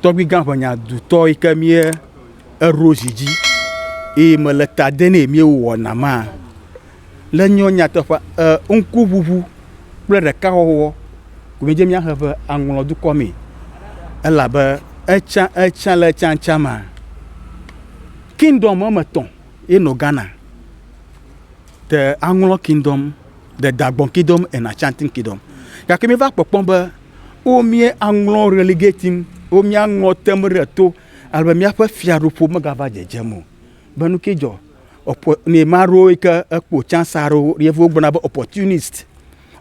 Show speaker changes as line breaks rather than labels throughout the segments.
Tɔgbuigã ʋenyadutɔ yi ke mía eɖo zi dzi eye me le ta de nɛ mía wowɔ na ma le nyɔ nyateƒe e ŋku ʋuʋu kple ɖeka wɔwɔ ko mí dze mía he ƒe aŋlɔ dukɔ mee. Elabe etsã etsã le etsã etsã ma kingdom wɔme etɔ̃ ye nɔ Ghana. The aŋlɔ kingdom, the dagbɔn kingdom and Ashanti kingdom. Gake mí va kpɔkpɔ be. O mía aŋlɔ relegating, o mía aŋlɔ tem ɖe to, alebe mía ƒe fiaɖuƒo megava dzedzem o. Be nu ke dzɔ, ɔpɔ, ne ma ɖo yi ke ekpo chance aɖewo, yevu wogblɔna be opportunist.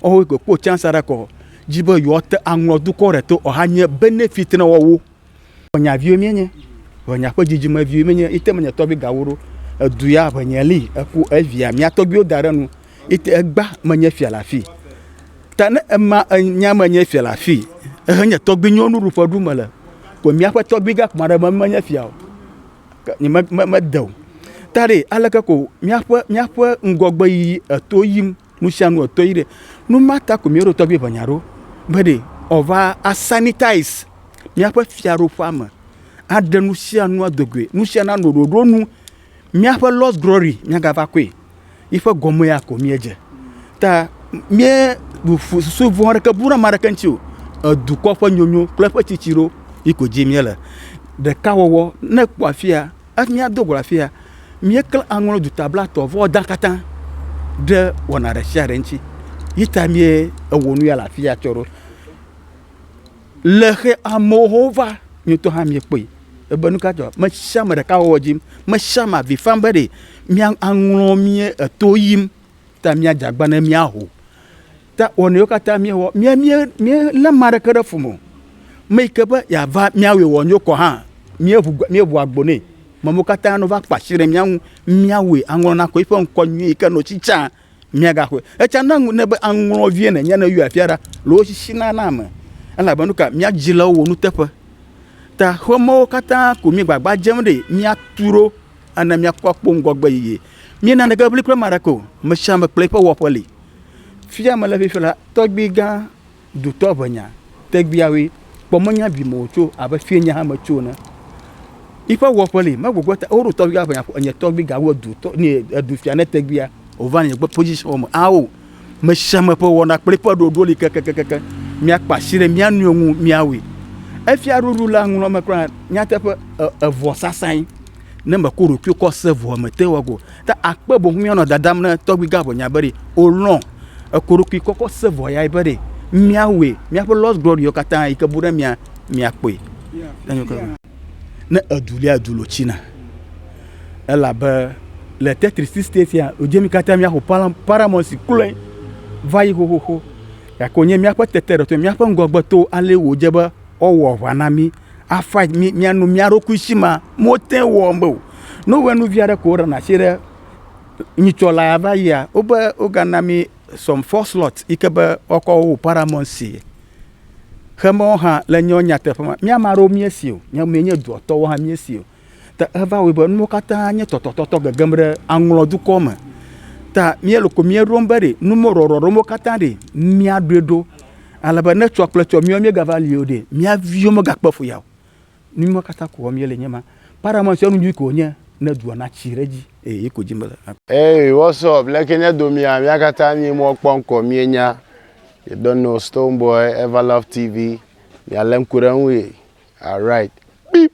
Ɔwo yi ke kpo chance aɖe kɔ, dzi be yewoate aŋlɔ dukɔ ɖe to, ɔha nye benefit na wɔwo. Ʋenya viwo mienye, ʋenya ƒe dzidzime viwo mienye, ite menye tɔgbi gawo ɖo, edu ya ʋenya li, eku evia mia tɔgbiwo da ɖe nu, ite egba menye fia le afi. Ta ne ema enya menye fia le afi, ehe nye tɔgbi nyɔnu ɖuƒe ɖu mele, ko miaƒe tɔgbi gã kpɔ aɖe menye fia o, nye me, me, mede o. Ta ɖe aleke ko miaƒe, miaƒe ŋgɔgbe yiyi eto yim. Nu sia nu ɔtɔ yi ɖe. Nu ma ta ko mi ɖo tɔgbi ʋe nya ɖo. Be ɖe ɔva a sanitize miaƒe fiaɖoƒa me. Aɖe nu sia nu ado goe. Nu sia na no ɖoɖo nu. Miaƒe lost glory mia ga va kɔe. Yi ƒe gɔme ya ko mie dze. Ta mie susu vɔ̃ ɖeke bu ɖe ame ɖeke ŋuti o. Edukɔ ƒe nyonyo kple eƒe tsitsi ɖo yi ko dzi mie le. Ɖeka wɔwɔ ne ekpɔ afia. Hafi míado go le afi ya, míeklẽ aŋlɔ duta blatɔ vɔ dã katã ɖe wɔna ɖe sia ɖe ŋuti. Yi ta míewɔ nu ya le afi ya tsɔ ɖo. Le xe amewo va, mi ŋutɔ hã miekpɔe. Ebe nu ka dzɔ? Ame sia ame ɖeka wɔ dzi yim. Ame sia ame avi fam be ɖe aŋlɔ mía to yim ta míadze agbagba ne míaho. Ta wɔnu yiwo katã míewɔ, mía mía míelé ame aɖeke ɖe fu me o. Ame yi ke be yeava míawɔe wòanyo kɔ hã, míeʋu gbe míeʋu agbo nɛ. Ame wo katã ne va kpa asi ɖe mía ŋu míawɔe aŋlɔ na kɔ eƒe ŋkɔ nyui yi ke nɔ tsitsã míagaxɔe. Etsã na ŋu ne be aŋlɔ vie nènye ne yɔe afia ɖa le wo sisi na na ame elabe nu ka mía dzi le wo nuteƒe. Ta xemewo katã ko mí gbagba dzem ɖi míatu ɖo ene míakpɔ kpo ŋgɔgbe yeye. Míena neke ʋli kple ame aɖeke o. Ame sia ame kple eƒe wɔƒe li. Fifia mele afi fia la, tɔgbui gã dutɔ ʋenya tegbeawoe kpɔ menya vi me wòtso abe fie nye hã metso ene. Yiƒe wɔƒe li megbɔgbɔ ta woɖo tɔgbui gã ʋenya ƒo enye tɔgbui gã wo dutɔ ne edu fia ne tegbeae wòva nye gbɔ position me ao mesiame ƒe wɔna kple ƒe ɖoɖo li kekekeke míakpa asi ɖe mía nɔewo ŋu míawɔe. Efia ɖoɖo la ŋlɔ me kura nyateƒe evɔ sasãe ne mekɔ ɖokuiwo kɔ se vɔ mete wɔ go. Ta akpe boŋ míanɔ dadam ne tɔgbui gã ʋɔnya be ɖe wòlɔ̃ ekoɖokui kɔkɔ se vɔ yae be ɖe míawɔe. Míaƒe lost glory katã yi ke bu ɖe mía míakpɔe. Ne edu lia du lo tsina elabe le Tetris state ya wodze mi katã míaxɔ Paramount kloe va yi xoxoxo gake wònye míaƒe tete ɖe to míaƒe ŋgɔgbe to ale wòdze be woawɔ aʋa na mí. afa nyi miano mia ɖokui si ma mo te wɔm be o. Ne wowɔ nu via ɖe ko ɖe na si ɖe nyitsɔ la ya va yia, wo be wo ga na mi some four slot yi ke be wɔkɔ wo paramount si. Xe me wo hã le nyɔ nyateƒe ma, mia ma ɖewo mie si o, nyɔ mie nye duɔtɔ wo hã mie si o. Ta eva wɔe be nuwo katã nye tɔtɔtɔtɔ gegem ɖe aŋlɔ dukɔ me. Ta míele ko míeɖom be ɖe numɔɖɔɖɔ ɖewo katã ɖe míaɖoe ɖo. Ale be ne tsɔ kple tsɔ míawo míegava li o ɖe, mía viwo megakpe fu ya o. Nu ma katã ko wɔm míele nye ma. Paramount ƒe nu nyui koe wònye ne dua natsi ɖe edzi. Eye yi ko dim mele. Hey, what's up? Leke nye domia? Mía katã mí mɔ kpɔ ŋkɔ mí nya. You don't know Stonebwoy, Everlove TV. Mia le ŋku ɖe ŋu ye. Alright, beep!